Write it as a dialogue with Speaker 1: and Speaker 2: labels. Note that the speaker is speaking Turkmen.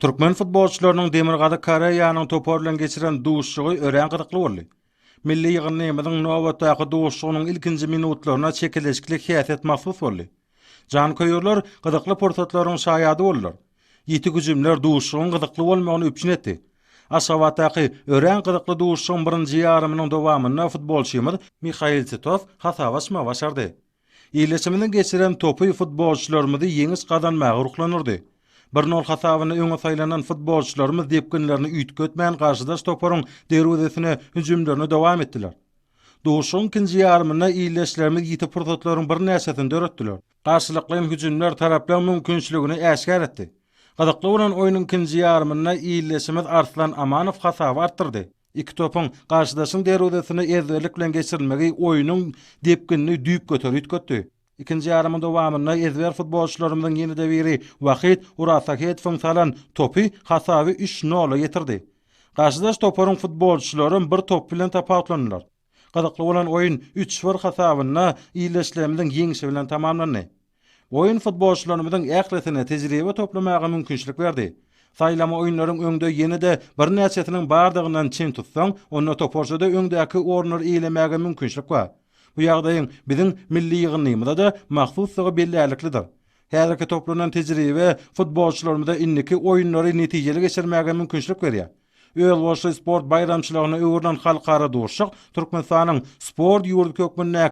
Speaker 1: Türkmen futbolçylarynyň Demirgazyk Koreýanyň topary bilen geçiren duşuşygy örän gyzykly boldy. Milli ýygyndymyzyň nobatdaky duşuşygynyň ilkinji minutlaryna çekeleşikli häsiýet mahsus boldy. Janköýerler gyzykly pursatlaryň şaýady boldular. Ýiti hüjümler duşuşygyň gyzykly bolmagyny üpjün etdi. Aşgabatdaky örän gyzykly duşuşygyň birinji ýarymynyň dowamynda futbolçymyz Mihail Titow hasap açmagy başardy. Ildeşimiziň geçiren topy futbolçylarymyzy ýeňiş gazanmaga ruhlandyrdy. Bir nol hasabynda öňe saýlanan futbolçylarymyz depginlerini üýtgetmän garşydaş toparyň derwezesine hüjümlerini dowam etdiler. Duşuşygyň ikinji ýarymynda ildeşlerimiz ýiti pursatlaryň birnäçesini döretdiler. Garşylaýyn hüjümler taraplaryň mümkinçiligini äşgär etdi. Gyzykly bolan oýnuň ikinji ýarymynda ildeşimiz Arslan Amanow hasaby artdyrdy. Iki topuň garşydaşyň derwezesine ezberlik bilen geçirilmegi oýnuň depginini düýpgöter üýtgetdi. Ikinji ýarymyň dowamynda ezber futbolçylarymyzyň ýene-de biri Wahyt Urasahetowyň salan topy hasaby üç nola ýetirdi. Garşydaş toparyň futbolçylaram bir top bilen tapawutlandylar. Gyzykly bolan oýun üç-bir hasabynda ildeşlerimiziň ýeňşi bilen tamamlandy. Oýun futbolçylarymyzyň ählisine tejribe toplamaga mümkinçilik berdi. Saýlama oýunlaryň öňde ýene-de birnäçesiniň bardygyndan çen tutsaň, onda toparçada öňdäki orunlary eýlemäge mümkinçilik bar. Bu ýagdaýyň biziň milli ýygyndymyza-da mahsusdygy bellärliklidir. Häzirki toplanan tejribe futbolçylarymyza indiki oýunlary netijeli geçirmäge mümkinçilik berýär. Özboluşly sport baýramçylygyna öwrülen halkara duşuşyk Türkmenistanyň sport ýurdy hökmünde,